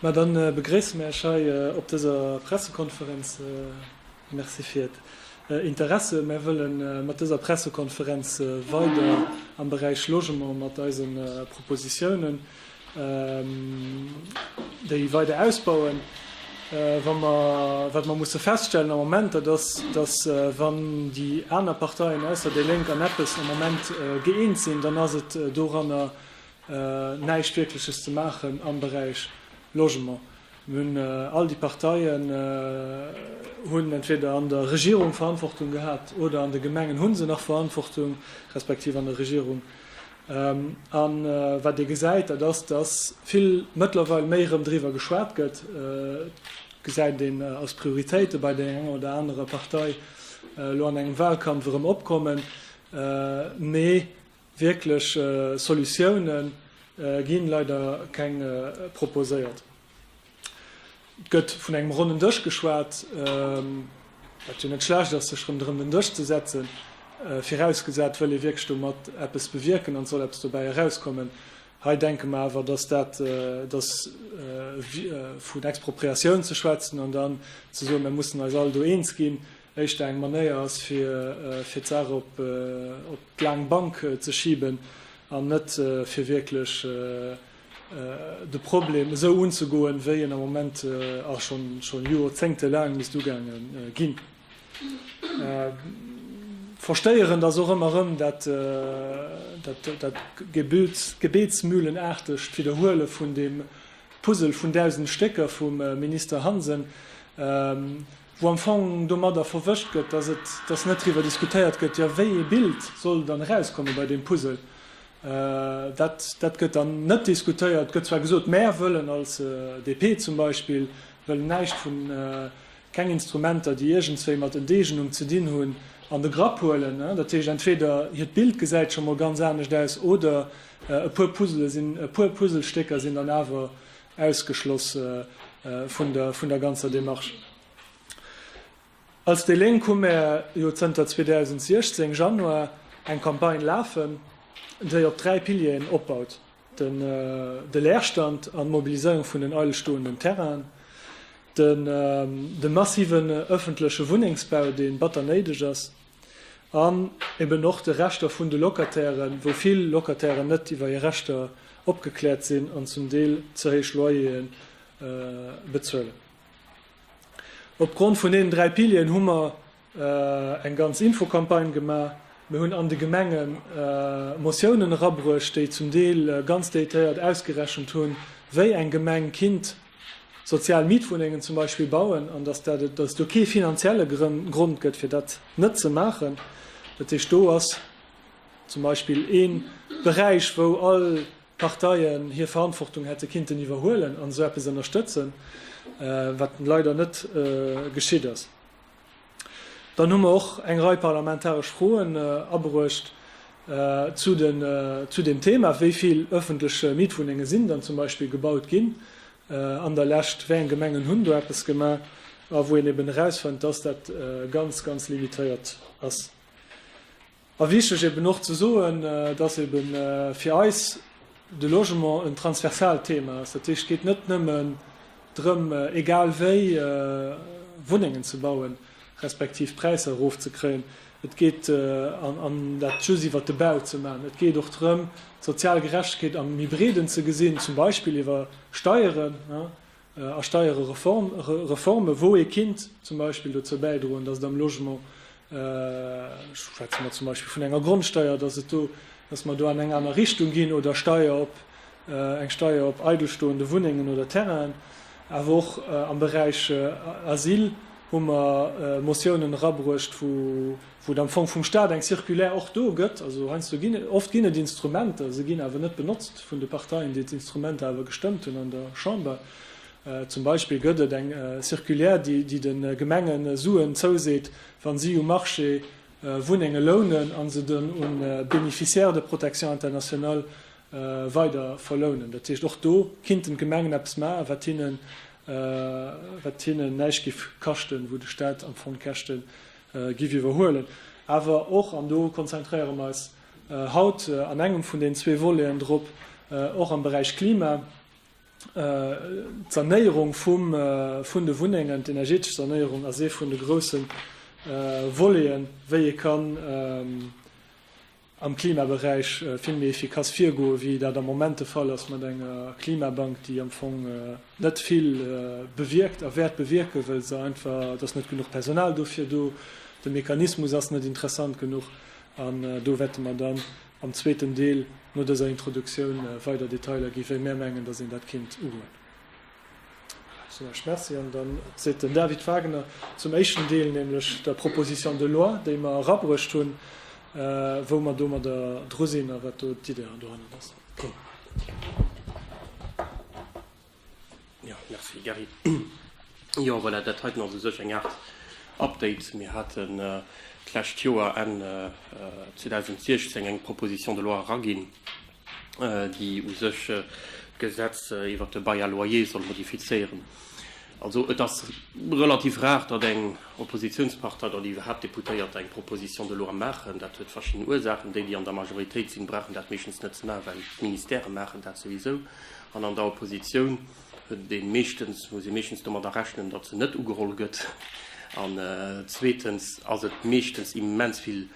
Mä dann begréisse mär Iech hei op dëser Pressekonferenz. Merci fir Iert Interesse. Mär wëlle mat dëser Pressekonferenz weider am Beräich Logement mat eise Propositiounen déi weider ausbauen. Wa mer, wat mer musse feststellen am Moment, dat ass, dass wann déi aner Parteien ausser déi Lénk an eppes am Moment gëeent sinn, dann ass et doranner, näischt Wierkleches ze maachen am Beräich Logement. Mir hunn, all déi Parteien hunn entweder an der Regierung Verantwortung gehat oder an de Gemengen hu se nach Verantwortung, respektiv an der Regierung. A wat Dir gesäit, dat ass, dass vill mëttlerweil méi erëm driwwer geschwat gëtt, gesäit een als Prioritéite bei där enger oder anerer Partei elo an engem Wahlkampf erëm opkommen, mee Wierklech Solutioune ginn leider keng proposéiert. Et gëtt vun engem ronnen Dësch geschwat, wat jo net schlecht ass, sech rëm den Dësch ze setzen, virausgesat wëll ee wierklech domat eppes bewierken an et soll eppes dobäi erauskommen. Hei denke mer awer, dass dat dass vun Expropriatioun ze schwätzen an dann ze soen, mir mussen eis all do eens ginn, éischter eng Manéier ass, fir d'Saach op d'laang Bank ze schiben an net fir wierklech de Problem esou unzegoen, wéi en am Moment a scho Jorzéngte laang misst ugaange ginn. Verstéierend ass och ëmmer erëm dat gebetsmühlenaartegt Widderhuele vun deem Puzzle vun dausend Stécker vum Minister Hansen, wou am Fong domadder verwëscht gëtt, dass et, dass net driwwer diskutéiert gëtt, jo, wéi ee Bild soll dann erauskommen bei deem Puzzle, dat, dat gëtt dann net diskutéiert, gëtt zwar gesot, Mär wëllen als DP zum Beispill wëllen näischt vun, keng Instrumenter, déi iergendswéi mat Enteegnung ze dinn hunn, an de Grapp huelen. Dat heescht, entweder hiert Bild gesäit scho mol ganz anescht aus oder e puer Puzzle sinn, e puer Puzzlestécker sinn dann awer ausgeschloss vun der, vun der ganzer Démarche. Als déi Lénk hu mär jo zënter 2016, Januar, eng Campagne lafen, déi op dräi Pilieren opbaut, den, de Leerstand an d'Mobiliséierung vun den eilstoenden Terrainen, den, de massiven ëffentleche Wunnengsbau, dee batter néideg ass, an eben och de Rechter vun de Locatairen, wou vill Locatairen net iwwer hir Rechter opgekläert sinn an zum Deel ze héich Loyere bezuelen. Opgrond vun deenen dräi Pilieren hu mer eng ganz Infocampagne gemaach. Mir hunn an de Gemenge Motiounen erabruecht, déi zum Deel ganz déitéiert ausgerechent hunn, wéi eng Gemeng kinnt, sozial Mietwunnengen zum Beispill bauen an dass dat, dass et do kee finanzielle Grond gëtt, fir dat net ze maachen. Dat heescht, do ass zum Beispill ee Beräich, wou all Parteien hir Verantwortung hätte kinnten iwwerhuelen an esou eppes ënnerstëtzen, wat leider net geschitt ass. Dann hu mer och eng Rei parlamentaresch Froen abruecht zu deem Thema, wéi vill öffentlech Mietwunnenge sinn dann zum Beispill gebaut ginn an der Lescht, wéi eng Gemengen hunn do eppes gemaach a wou een eben erausfënnt, dass dat ganz, ganz limitéiert ass. A wichteg eben och ze soen, dass ebe fir eis de Logement en transversaalt Thema ass. Dat heescht, et geet net nëmmen drëm, egal wéi, Wunnengen ze bauen, respektiv d'Präisser erofzekréien. Et geet, an dat just iwwert de Bau ze maachen, et geet och drëm, d'sozial Gerechtegkeet am méi breeden ze gesinn, zum Beispill iwwer Steieren. A Steierereforme wou ee kinnt zum Beispill dozou bäidroen, datt et am Logement, schwätze mer zum Beispill vun enger Grondsteier, datt et do, datt mer do an eng aner Richtung ginn, oder Steier op, eng Steier op eidelstoende Wunnengen oder Terrainen. Awer och am Beräich Asyl hu mer Motiounen erabruecht, wou, wou et am Fong vum Stat eng Circulaire och do gëtt, also heiansdo ginn et, oft ginn et Instrumenter, se ginn awer net benotzt vun de Parteien, déi d'Instrumenter awer gestëmmt hunn an der Chamber. Zum Beispill gëtt et eng Circulaire, déi de Gemenge Suen zouseet, wa si um Marché Wunnenge lounen a se dunn un Bénéficiaires de protection internationale weider verlounen. Dat heescht, och do kinnten d'Gemengen eppes ma wat hinnen näischt géif kaschten, wou de Stat am Fong d'Käschte Giff iwwerhuelen. Awer och, an do konzentréiere mer eis haut an engem vun den zwee Voleten drop, och am Beräich Klima, d'Sanéierung vun de Wunnengen, d'energetesch Sanéierung ass ee vun de grousse Voleten, wéi ee kann am Klimaberäich vill méi efficace virgoen, wéi dat am Moment de Fall ass mat enger Klimabank, déi am Fong net vill bewierkt a wäert bewierken, well se einfach, et ass net genuch Personal dofir do, de Mechanismus ass net interessant genuch. An do wäerte mer dann am zweeten Deel no dëser Introduktioun weider Detailer ginn, wéi mär mengen, datt een dat kéint ugoen. Soen ech Merci an dann seet den David Wagner zum éischten Deel, nämlech der Proposition de loi, déi mer erabruecht hunn, wou mer domadder dru sinn a wat do d'Idee dohannert ass. Merci, Gary. Jo, voilà, dat heiten ass u sech eng Aart Update. Mir haten d'lescht Joer, Enn 2016, eng Proposition de loi eraginn, déi u sech d'Gesetz iwwert de Bail à loyer soll modifizéieren. Also et ass relativ rar, datt eng Oppositionspartei oder déi iwwerhaapt Deputéierte eng Proposition de loi maachen. Dat huet verschidden Ursaachen. Déi, déi an der Majoritéit sinn, brauchen dat meeschtens net ze maachen, well d'Ministere maachen dat souwisou. An an der Opposition. deen meeschtens, muss ee meeschtens domadder rechnen, datt se net ugeholl gëtt an zweetens ass et meeschtens immens vill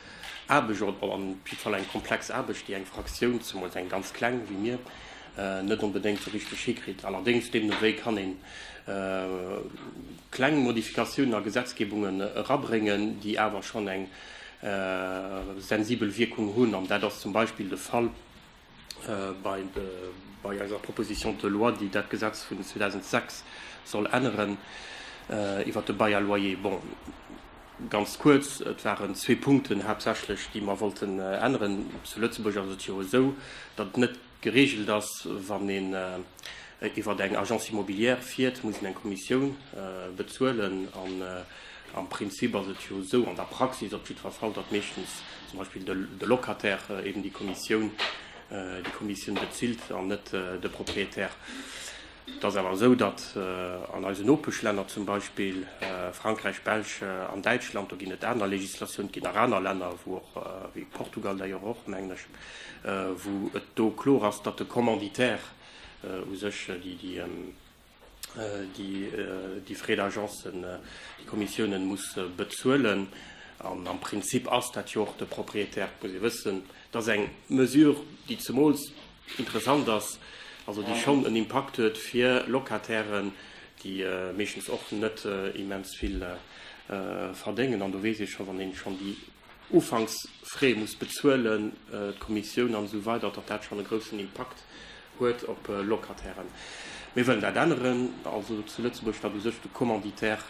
Aarbecht oder op jiddwer Fall eng komplex Aarbecht, déi eng Fraktioun, zemools eng ganz kleng wéi mir, net onbedéngt esou richteg hikritt. Allerdéngs, deemno wéi kann ee kleng Modifikatiounen a Gesetzgebungen erabréngen, déi awer schonn eng sensibel Wierkung hunn an dat ass zum Beispill de Fall, Bei eiser Proposition de loi, déi dat Gesetz vun 2006 soll änneren, iwwert de Bail à loyer, bon, ganz kuerz, et waren zwee Punkten haaptsächlech, déi mer wollten änneren. Zu Lëtzebuerg ass et jo esou, datt et net gereegelt ass, wann een iwwert eng Agence immobilière fiert, muss een eng Kommissioun bezuelen. Am Prinzip ass et jo esou, an der Praxis op jiddwer Fall, datt meeschtens zum Beispill de Locataire eben déi Kommissioun, déi Kommissioun bezilt an net de Propriétaire. Et ass awer esou, datt an eisen Nopeschlänner, zum Beispill Frankräich, Belsch an Däitschland, do ginn et aner Législatioun, et ginn nach aner Länner, wou och, wéi Portugal d'ailleurs och, mengen ech, wou et do kloer ass, datt de Commanditaire u sech déi, déi Frais d'agencen, déi Kommissiounen muss bezuelen. An am Prinzip ass dat jo och de Propriétaire. Et muss ee wëssen, et ass eng Mesure, déi zemools interessant ass, also déi schonn en Impakt huet fir Locatairen, déi meeschtens och net immens vill verdéngen. An do weess ee scho, wann ee schonn déi Ufanksfrais muss bezuelen, d'Kommissioun an esou weider, datt dat schonn e groussen Impakt huet op Locatairen. Mir wëllen dat änneren, also zu Lëtzebuerg, datt u sech de Commanditaire,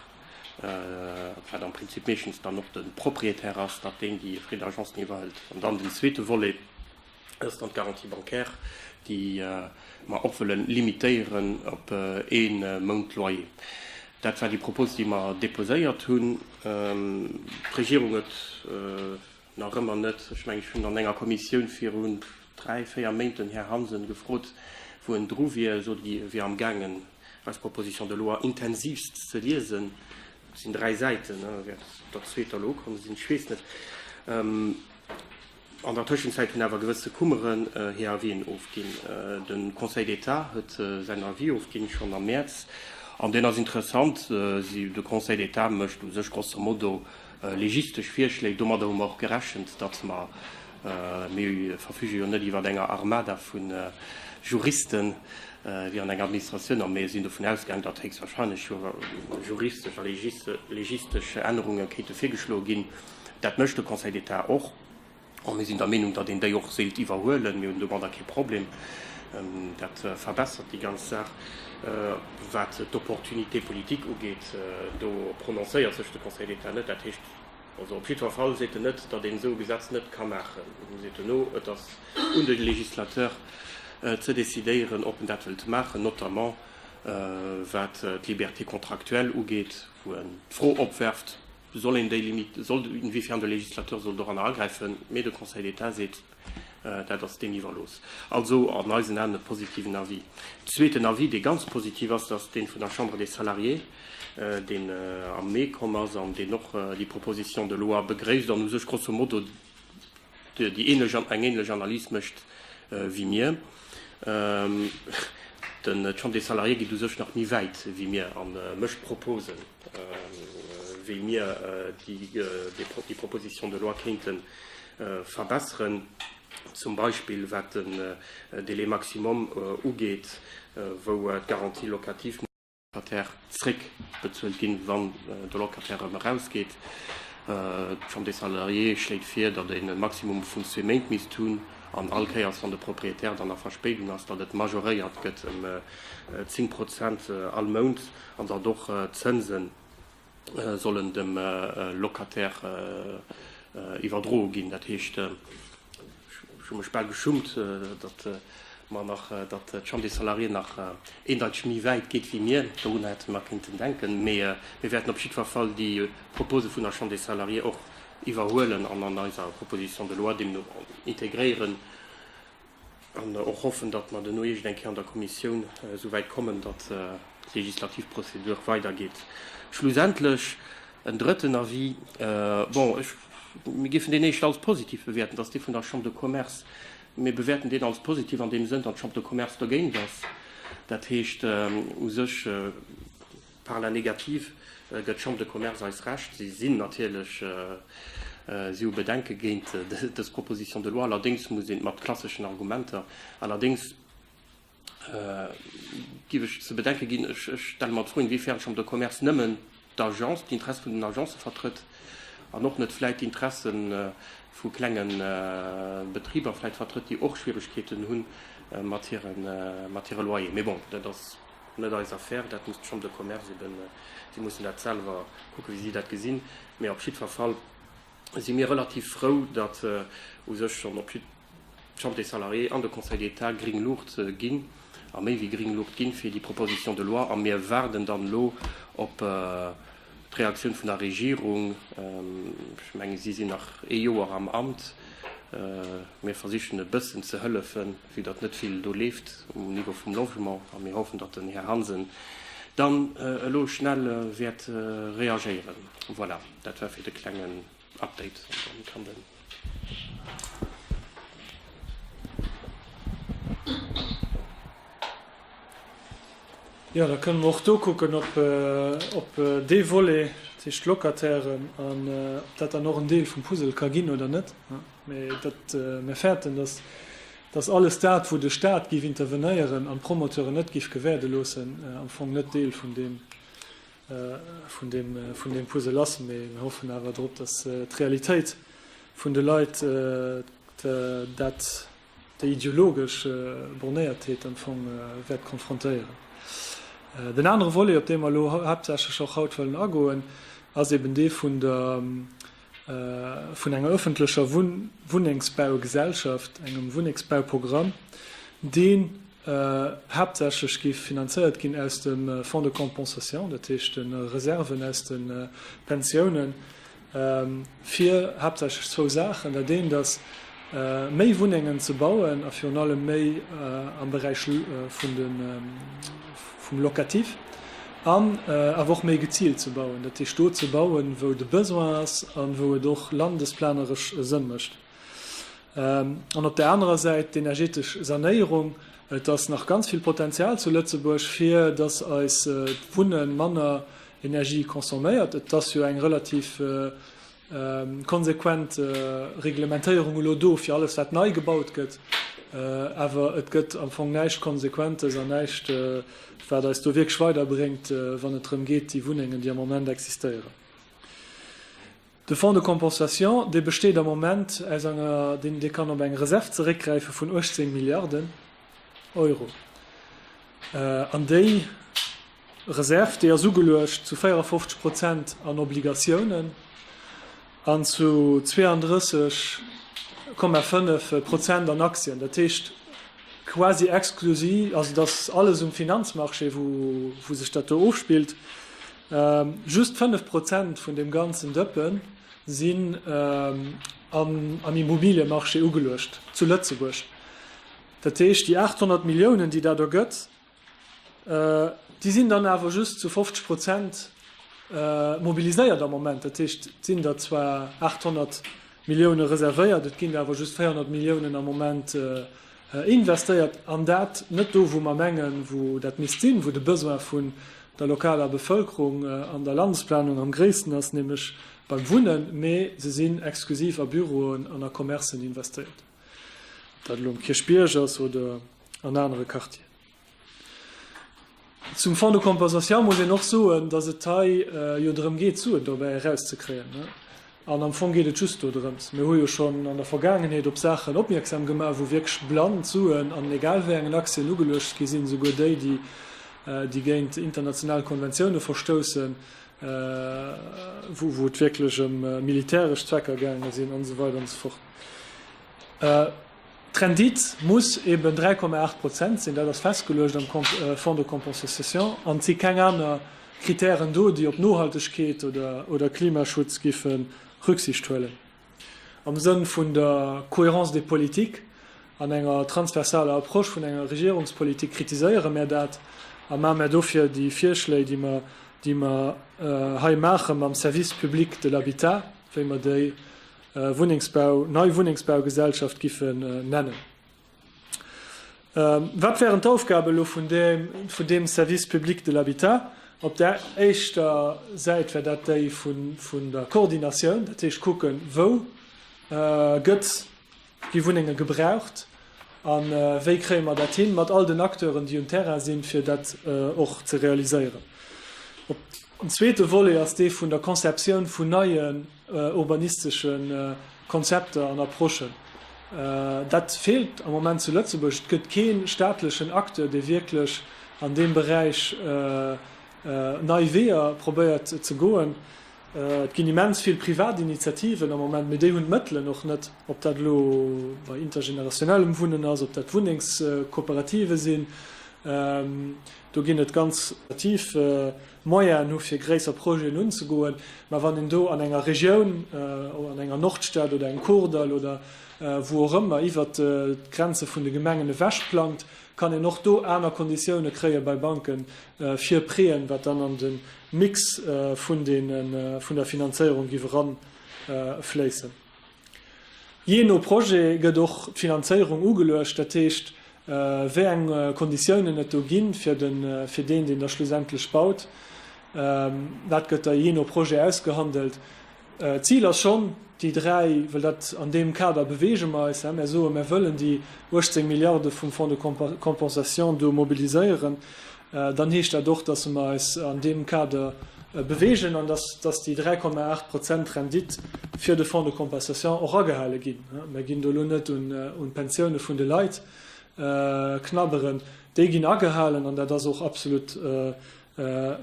wat am Prinzip meeschtens dann och de Propriétaire ass, datt deen déi frais d'agence ni iwwerhëlt. An dann den zweete Volet. Dat ass dann d'Garantie bancaire, déi mer och wëlle limitéieren op ee Mount Loyer. Dat war déi Propos, déi mer deposéiert hunn. D'Regierung huet nach ëmmer net, ech mengen, ech hunn an enger Kommissioun viru dräi, véier Méint den Här Hansen gefrot, wou en dru wier. E sot, e wier amgaangen, eis Proposition de loi intensivst ze liesen. Et sinn dräi Säiten, wärend der zweeter elo ukomm sinn. Ech weess net. An der Tëschenzäit hunn awer gewësse Kummeren hir Avisen ofginn. De Conseil d'État huet säin Avis ofginn, schonn am Mäerz. An deen ass interessant. De Conseil d'État mécht u sech grosso modo legistesch Virschléi. Domadder hu mer och gerechent, datt mer, mir verfüge jo net iwwer enger Armada vu Juristen, wéi an enger Administratioun, a mir sinn dovun ausgaangen, datt héchstwahrscheinlech juristesch a legistesch Ännerunge kéinte virgeschloe ginn. Dat mécht de Conseil d'État och. A mir sinn der Meenung, datt een déi och séilt iwwerhuelen. Mir hunn domadder kee Problem. Dat verbessert déi ganz Saach. Wat d'Opportunité politique ugeet, do prononcéiert sech de Conseil d'État net. Dat heescht also, op jiddwer Fall seet en net, datt een esou e Gesetz net ka maachen. En seet duerno, et ass un de Législateur ze decidéieren, ob en dat wëllt maachen, notamment wat d'Liberté contractuelle ugeet, wou en d'Fro opwerft, soll een déi Limite, soll, inwiefern de Législateur soll doranner agräifen, mee de Conseil d'État seet, dat ass deem iwwerlooss. Also an eisen Aen e positiven Avis. Zweeten Avis, dee ganz positiv ass, dat ass dee vun der Chambre des Salariés, deen am Mee komm ass an deen och déi Proposition de loi begréisst an u sech grosso modo déi ähnlech, eng ähnlech Analys mécht wéi mir. D'Chambre des Salariés geet u sech nach méi wäit wéi mir a mécht Proposen. wéi mir déi Proposition de loi kéinte verbesseren, zum Beispill wat den Délai maximum ugeet, wou d'Garantie locative muss. Locataire zréckbezuelt ginn, wann de Locataire erëm erausgeet. D'Chambre des salariés schléit vir, datt een e Maximum vu zwee Méint misst hunn an all Kéiers, wann de Propriétaire dann a Verspéidung ass, datt et majoréiert gëtt ëm 10 Prozent all Mount. An datt och d'Zënse sollen dem Locataire iwwerdroe ginn. Dat heescht, ech hu mech bal geschummt, datt mer nach, datt d'Chambre des Salariés nach eendeiteg méi wäit geet wéi mir. Dorunner hätte mer nach kéinten denken. Mee mir wäerten op jiddwer Fall déi Propose vun der Chambre des Salariés och iwwerhuelen an an eiser Proposition de loi deemno integréieren. An och hoffen, datt mer duerno iergend eng Kéier an der Kommissioun esou wäit kommen, datt d'legislativ Prozedur weidergeet. Schlussendlech en drëtten Avis, bon, ech, mir géifen deen éischt als positiv bewäerten, dat ass dee vun der Chambre de Commerce. Mir bewäerten deen als positiv an deem Sënn, datt d'Chambre de Commerce dogéint ass. Dat heescht u sech, Par la négative gëtt d'Chambre de Commerce eis Recht. Si sinn natierlech, si hu Bedenke géint dës Proposition de loi. Allerdéngs muss een, mat klasseschen Argumenter, allerdéngs giff ech ze bedenke ginn, ech stelle mer d'Fro, inwiefern d'Chambre de Commerce nëmmen d'Agence, d'Interesse vun den Agencë vertrëtt an och net vläicht d'Interesse vu klenge Betriber vläicht vertrëtt, déi och Schwieregkeeten hu mat hire Loyer. Mee bon, dat ass. Net eis Affaire, dat muss d'Chambre de Commerce eben, si mussen dat selwer kucken, wéi si dat gesinn. Mee op jiddwer Fall si mir relativ frou, datt u sech schonn op jidd d'Chambre des Salariés an de Conseil d'État gring Luucht ginn, a méi wéi gring Luucht ginn, fir déi Proposition de loi. A mir waarden dann elo op d'Reaktioun vun der Regierung. Ech menge si sinn nach ee Joer am Amt. Mir versichen e bëssen ze hëllefen. Vue datt net vill do leeft um Niveau vum Logement a mir hoffen, datt den Här Hansen dann elo schnell wäert reagéieren. Voilà, dat war fir de klengen Update. An dann kann den. Jo, da kënnen mer och do kucken op dee Volet, dat heescht d'Locatairen, an ob dat dann och en Deel vum Puzzle ka ginn oder net. mä datt mir fäerten, datt datt alles dat, wou de Stat géif intervenéieren an d'Promoteuren net géif gewäerde loossen, am Fong net Deel vun deem vun deem vun deem Puzzle ass. Mä mir hoffen awer drop, datt d'Realitéit vun de Leit dat déi ideologesch Bornéiertheet am Fong wäert konfrontéieren. Den anere Volet, op dee mer elo haaptsächlech och haut wëllen agoen, ass eben dee vun der vun enger öffentlecher Wunnengsbaugesellschaft, engem Wunnengsbauprogramm, dee haaptsächlech géif finanzéiert ginn aus dem Fonds de compensation, dat heescht de Reserven aus de Pensiounen, fir haaptsächlech zwou Saachen. Dat eent ass, méi Wunnengen ze bauen a virun allem méi am Beräich vun de, vum Locatif an awer och méi geziilt ze bauen, dat heescht do ze bauen, wou de Besoin ass a wou et och landesplaneresch Sënn mécht. An op där anerer Säit d'energetesch Sanéierung. Et ass nach ganz vill Potenzial zu Lëtzebuerg, fir dass eist Wunne manner Energie consomméiert. Et ass jo eng relativ Konsequent Reglementéierung elo do fir alles wat nei gebaut gëtt, awer et gëtt am Fong näischt Konsequentes an näischt wat eis do wierklech weiderbréngt, wann et drëm geet déi Wunnengen déi am Moment existéieren. De Fonds de compensation, dee besteet am Moment aus enger, dee kann op eng Reserv zeréckgräife vun 18 Milliarden Euro an déi, Reserve, déi ass ugeluecht zu 54 Prozent an Obligatiounen an zu 32,5 Prozent an Aktien. Dat heescht quasi exklusi, also et ass alles um Finanzmarché, wou sech dat do ofspillt. Just 5 Prozent vun deem ganzen Dëppe sinn am Immobiliemarché ugeluecht zu Lëtzebuerg. Dat heescht déi 800 Milliounen, déi dat ergëtt, Déi sinn dann awer just zu 50 Prozent mobiliséiert am Moment. Dat heescht, et sinn der zwar 800 Millioune reservéiert, et ginn der awer just 400 Milliounen am Moment investéiert, an dat net do, wou mer mengen, wou dat misst sinn, wou de Besoin vun der lokaler Bevëlkerung an der Landesplanung am gréissten ass, nämlech beim Wunnen, mee se sinn exklusiv a Büroen an a Commercen investéiert, ob dat elo um Kierchbierg ass oder. an anere Quartieren. Zum Fonds de compensation muss een och soen, datt et hei jo drëm geet, Suen dobäi erauszekréien. An am Fong geet et just do drëms. Mir hu jo schonn an der Vergaangenheet op Saachen opmierksam gemaach, wou wierklech blann Suen an egal wéi engen Aktien ugeluecht gi sinn, esouguer déi, déi géint international Konventioune verstoussen, wou et wierklech ëm militäresch Zwecker gaange sinn an esou weider an esou fort. D'Rendite muss eben 3,8 Prozent sinn, dat ass festgeluecht am Fonds de compensation an et si keng aner Kritären do, déi op Nohaltegkeet oder Klimaschutz giffe Rücksicht huelen. Am Sënn vun der Cohérence des politiques an enger transversaler Approche vun enger Regierungspolitik kritiséiere mär dat a maache mär dofir déi Virschléi, déi mer hei maache mam Service public de l'habitat, wéi mer déi Wunnengsbau, nei Wunnengsbaugesellschaft giffe nennen. Wat wären d'Aufgabe elo vun deem, vun deem Service public de l'habitat? Op där éischter Säit wär dat déi vun der Koordinatioun, dat heescht kucken, wou gëtt wéi Wunnenge gebraucht a wéi kréie mer dat hin mat all den Acteuren, déi um Terrain sinn, fir dat och ze realiséieren. Den zweete Volet ass dee vun der Conceptioun vun neie. urbanistesche Konzepter an Approchen. Dat feelt am Moment zu Lëtzebuerg. Et gëtt kee staatlechen Acteur, dee wierklech an deem Beräich nei Weeër probéiert ze goen. Et ginn immens vill privat Initiativen am Moment, mee déi hunn d'Mëttelen och net, ob dat elo bei intergenerationellem Wunnen ass, ob dat Wunnengskooperative sinn, do ginn et ganz. Moyene hu fir gréisser Projeten unzegoen, mä wann een do an enger Regioun, an enger Nordstad oder eng Kordall oder wou och ëmmer, iwwert d'Grenze vun de Gemengen ewech plangt, kann een och do aner Konditioune kréie bei Banke fir Préen, wat dann an de Mix vun der Finanzéierung giff eranfléissen. Jee no Projet gëtt och d'Finanzéierung ugeluecht, dat heescht, wéi eng Konditiounen et do ginn, fir deen, deen da schlussendlech baut. Dat gëtt da jee no Projet ausgehandelt. D'Zil ass schonn, déi dräi, well dat an deem Kader beweege mer eis, mär soe, mär wëllen déi 18 Milliarde vum Fonds de compensation do mobiliséieren, dann heescht dat och, dass mer eis an deem Kader bewegen an dass déi 3,8 Prozent Rendite fir de Fonds de compensation och agehale ginn. Mer ginn do elo net un d'Pensioune vun de Leit knabberen. Déi ginn agehalen an dat ass och absolut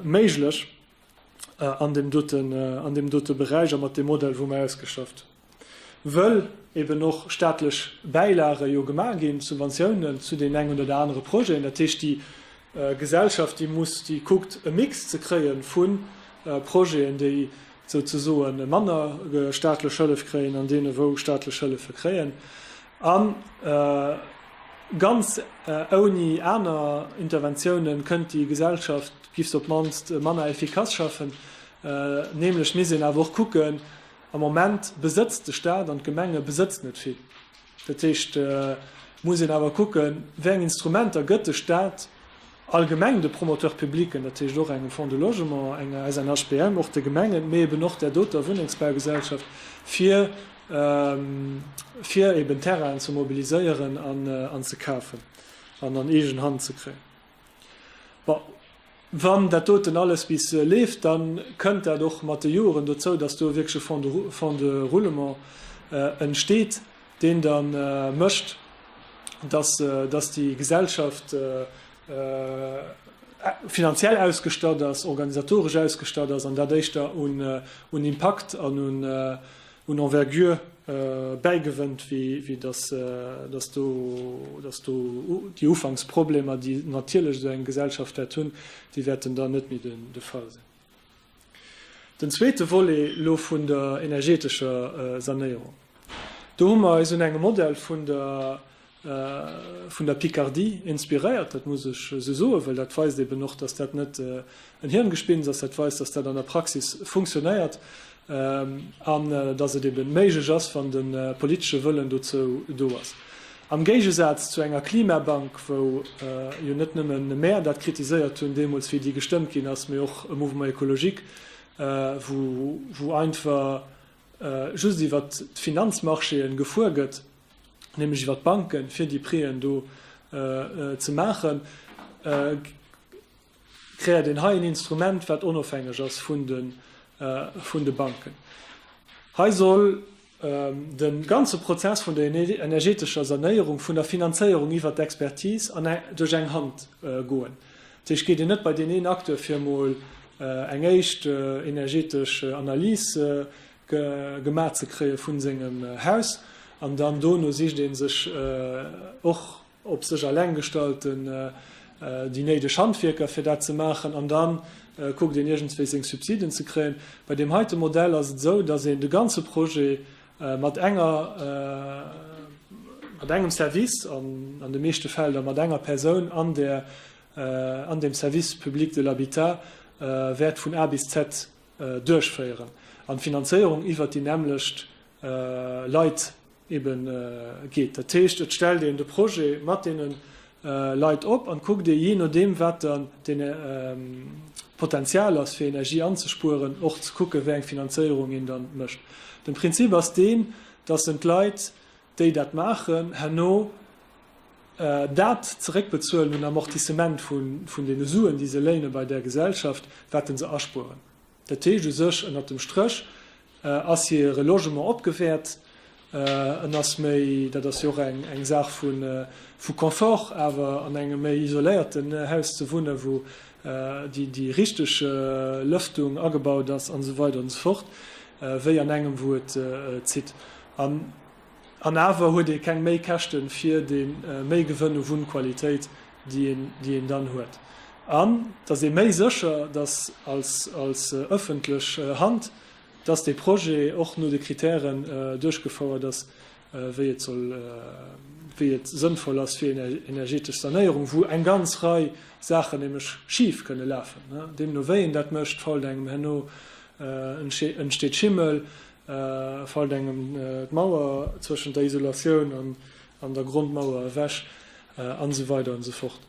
méiglech. an deem doten, an deem dote Beräich a mat deem Modell, wou mer ausgeschafft, wëll eben och staatlech Bäilage jo gemaach ginn, Subventiounen zu deem engen oder anere Projeten, dat heescht déi Gesellschaft, déi muss, déi kuckt e Mix ze kréie vu Projeten, déi souzesoen manner staatlech Hëllef kréien, an deene wou staatlech Hëllefe kréien. A ganz ouni aner Interventiounen kënnt déi Gesellschaft, giff se op d'mannst manner effikass schaffen. Nämlech misst een awer och kucken, am Moment besëtzt de Staat an d'Gemenge besëtzt net vill. Dat heescht, muss een awer kucken, wéi eng Instrumenter gëtt de Staat, allgemeng de Promoteurs publics, dat heescht och engem Fonds de logement, enger SNHBM, och de Gemengen, mee eben och där doter Wunnengsbaugesellschaft, fir fir eben Terrainen ze mobiliséieren an ze kafen an an eegen Hand ze kréien. Bon, wann dat doten alles bis leeft, da kënnt dat och mat de Joren dozou, dass do wierklech e Fonds de roulement entsteet, deen da mécht, datt déi Gesellschaft finanziell ausgestatt ass, organisatoresch ausgestatt ass an dat éischter un Impakt an un Envergure bäigewënnt, wéi datt do déi Ufanksproblemer, déi natierlech esou eng Gesellschaft wäert hunn, déi wäerten da net méi de Fall sinn. Den zweete Volet elo vun der energeetescher Sanéierung, do hu mer eis un engem Modell vun der vun der Picardie inspiréiert. Dat muss ech esou soen, well dat weist eben och, dass dat net en Hirngespinns ass, dat weist, dass dat an der Praxis funktionéiert. an datt et eben méiglech ass, wann de politesche Wëllen dozou do ass, am Géigesaz zu enger Klimabank, wou jo net nëmme mär dat kritiséiert hunn deemools, wéi déi gestëmmt ginn ass, mee och e Mouvement écologique, wou einfach just iwwer d'Finanzmarchéen gefuer gëtt, nämlech iwwer d'Banken, fir déi Préen do ze maachen. Kréiert een hei en Instrument, wat onofhängeg ass vun de Banken. Hei soll de ganze Prozess vun der energetescher Sanéierung, vun der Finanzéierung iwwert d'Expertis duerch eng Hand goen. Dat heescht, geet een net bei deen een Acteur fir emol eng éischt energetesch Analys gemaach ze kréie vu sengem Haus an dann dono sicht ee sech och, op sech alleng gestalten déi néideg Handwierker fir dat ze maachen an dann kuckt een iergendswéi seng Subsiden ze kréien. Bei deem heite Modell ass et esou, datt een de ganze Projet mat enger, mat engem Service an an de meeschte Fäll da mat enger Persoun an där, an deem Service public de l'habitat wäert vun A bis Z duerchféieren an d'Finanzéierung iwwert déi nämmlecht Leit ebe geet. Dat heescht, et stellt een de Projet mat deene Leit op an kuckt ee jee nodeem, wat dann den Potenzial ass, fir Energie anzespueren, och ze kucke wéi eng Finanzéierung een dann mécht. Den Prinzip ass deen, dass en d'Leit, déi dat maachen, herno dat zeréckbezuelen un Amortissement vun deene Suen, déi se léine bei där Gesellschaft, wat en se aspueren. Dat heescht u sech, ënnert dem Stréch ass hire Logement opgewäert, en ass méi, dat ass jo och eng Saach vu Confort, awer an engem méi isoléierten Haus ze wunnen, wou déi richteg Lëftung agebaut ass an esou weider an esou fort, wéi an engem, wou et zitt. An awer huet ee keng Méikäschten fir dee Méigewënn u Wunnqualitéit. déi een dann huet, an datt ee méi sécher ass als ëffentlech Hand, datt dee Projet och no de Krittären duerchgefouert ass, wéi et soll, wéi et sënnvoll ass fir een energetesch Sanéierung, wou eng ganz Rei Saachen nämlech schif kënne lafen. Deemno wéi een dat mécht, fault engem herno, entsteet Schimmel, fault engem d'Mauer zwëschent der Isolatioun an an der Grondmauer ewech an esou weider an esou fort.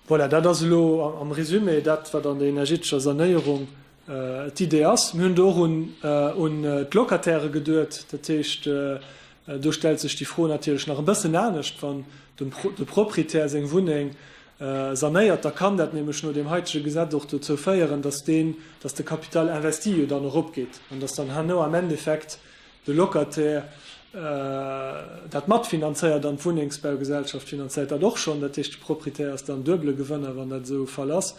Voilà, dat ass elo am Résumé dat, wat an der energetescher Sanéierung d'Idee ass. Mir hunn do och un d'Locataire geduet. Dat heescht, do stellt sech déi Fro natierlech nach e bëssen anescht, wann de Proprietär seng Wunneng sanéiert, da kann dat nämlech no deem haitege Gesetz och dozou féieren, dass de Capital investi jo dann eropgeet an dass dann herno am Endeffekt de Locataire dat matfinanzéiert an d'Wunnengsbaugesellschaft finanzéiert dat och schonn, dat heescht de Proprietär ass dann duebele Gewënner, wann dat esou e Fall ass.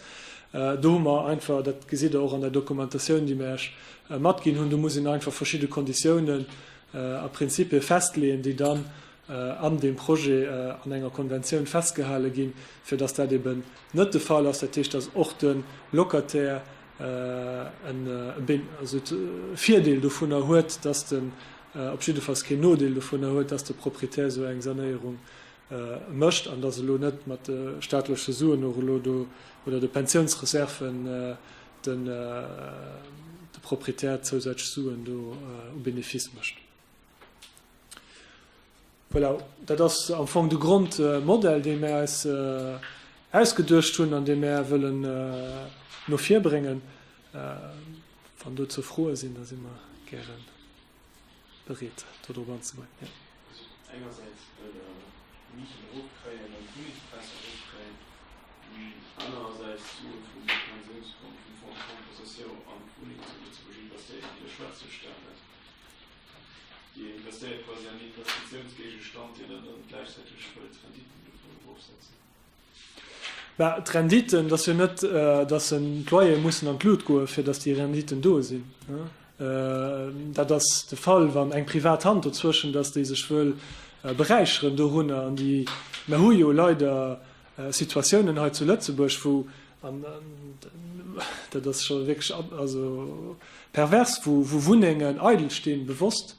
Do hu mer einfach, dat gesitt Der och an der Dokumentatioun, déi mer Iech matginn hunn, do muss een einfach verschidde Konditiounen a Prinzippie festleeën, déi dann an deem Projet an enger Konventioun festgehale ginn, fir datt dat eeben net de Fall ass, dat heescht, datt och de Locataire en Virdeel dovunner huet, dass den, op jiddefalls keen Nodeel dovunner huet, dass de Proprietär esou eng Sanéierung mécht an dass elo net mat de staatleche Suen och elo do oder de Pensiounsreserven de Proprietär zousätzlech Suen do au bénéfice mécht. Voilà, dat ass am Fong de Grondmodell, dee mär eis ausgeduecht hunn an dee mär wëllen no vir bréngen. Wann dozou Froe sinn, da si mer gäre bereet, dodrop anzegooen. Dir investéiert quasi an Investitiounsgéigestand, deen der dann gläichzäiteg wëllt d'Renditen dovun erofsetzen. Bah, d'Renditen, dass jo net, dass en d'Loyere mussen an d'Lut goen, fir dass déi Renditen do sinn. Dat ass de Fall, wann eng privat Hand dozwëschen ass, déi sech wëll beräicheren dorunner. An déi, mer hu jo leider Situatiounen hei zu Lëtzebuerg, wou, an dat ass scho wierklech pervers, wou Wunnengen eidel stinn, bewosst,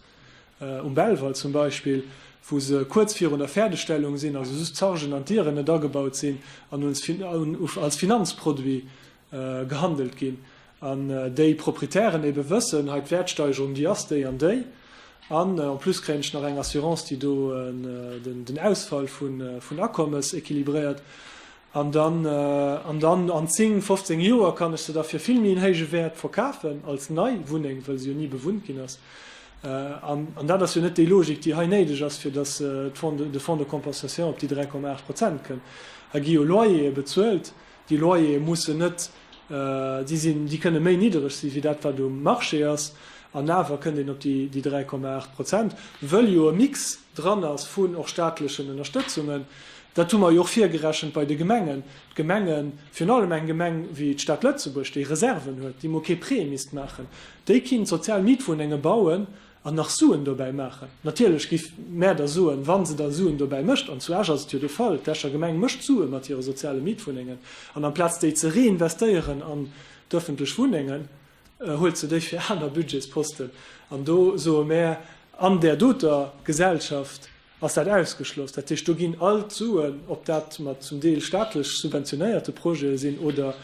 um Belval zum Beispill, wou se kuerz virun der Fäerdegstellung sinn, also just d'Chargen an d'Dieren net agebaut sinn, an als Finanzproduit gehandelt ginn an déi Proprietären ebe wëssen, hei d'Wäertsteigerung déi ass déi an déi an en plus kréien ech nach eng Assurance déi do den Ausfall vun Akommes équilibréiert an dann an dann an 10, 15 Joer kann ech se da fir vill méi en héije Wäert verkafen als nei Wunneng, well se jo ni bewunnt ginn ass an dat ass jo net déi Logik déi hei néideg ass fir datt de Fonds de compensation op déi 3,8 Prozent kënn. Hei gi jo Loyere bezuelt Déi Loyere mussen net, déi sinn, déi kënne méi niddereg si wéi dat wat um Marché ass an awer kënnt een op déi 3,8 Prozent, wëll jo e Mix dran ass vun och staatlechen Ënnerstëtzungen. Dat hu mer jo och virgerechent bei de Gemengen. D'Gemengen, virun allem eng Gemeng wéi d'Stad Lëtzebuerg, déi Reserven huet, déi mol kee Prêt misst maachen, déi kinnt sozial Mietwunnenge bauen, An nach Suen dobäi maachen. Natierlech giff mär der soen, wann se da Suen dobäi mécht, an zu Esch ass et jo de Fall, d'Escher Gemeng mécht Suen mat hire soziale Mietwunnengen, an amplaz déi ze reinvestéieren an d'öffentlech Wunnengen, huelt se déi fir aner Budgetsposten. An do soe mär, an där doter Gesellschaft, Ass dat ausgeschloss? Dat heescht, do ginn all d'Suen, ob dat mat zum Deel staatlech subventionéierte Projete sinn oder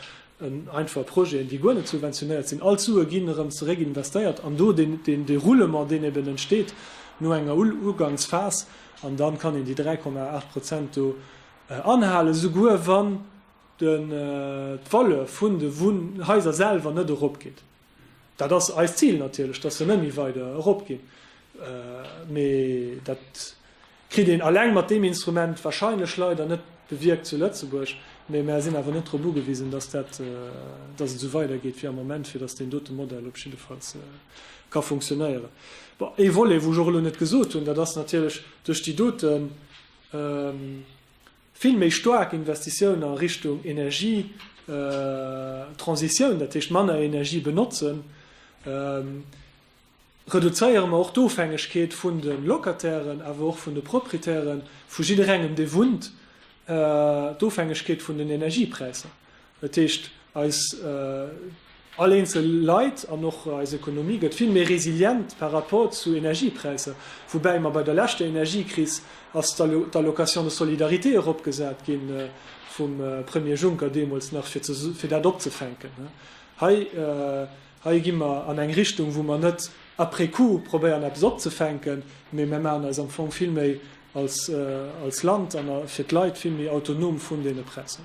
einfach Projeten, déi guer net subventionéiert sinn, all d'Sue ginn erëm zeréckinvestéiert an do dee Roulement, deen eben entsteet no enger Uganksphas, an da kann een déi 3,8 Prozent do anhalen, souguer wann d'Valeur vun de Haiser selwer net eropgeet. Dat ass eist Zil natierlech, dass se net méi weider eropginn. Mee dat kritt een alleng mat deem Instrument wahrscheinlech leider net bewierkt zu Lëtzebuerg. Mee mär sinn awer net drop ugewisen, dass dat, dass et esou weidergeet wéi am Moment, fir dass deen dote Modell op jiddefalls ka funktionéieren. Bon, ee Volet, wou ech och elo net gesot hunn, dat ass natierlech duerch déi dote Vill méi staark Investitiounen a Richtung Energietransitioun, dat heescht manner Energie benotzen, reduzéiere mer och d'Ofhängegkeet vun de Locatairen, awer och vun de Proprietären, vu jidderengem dee wunnt, d'Ofhängegkeet vun den Energiepräisser. Dat heescht, eis all eenzel Leit an och eis Ekonomie gëtt vill méi resilient par rapport zu Energiepräisser. Woubäi mer bei der leschter Energiekris ass d'Allocation de solidarité eropgesat gi vum Premier Juncker deemools nach, fir dat opzefänken. Hei gi mer an eng Richtung, wou mer net après coup probéieren eppes opzefänken, mee mär maachen eis am Fong vill méi Als Land an fir d'Leit vill méi autonom vun deene Präisser.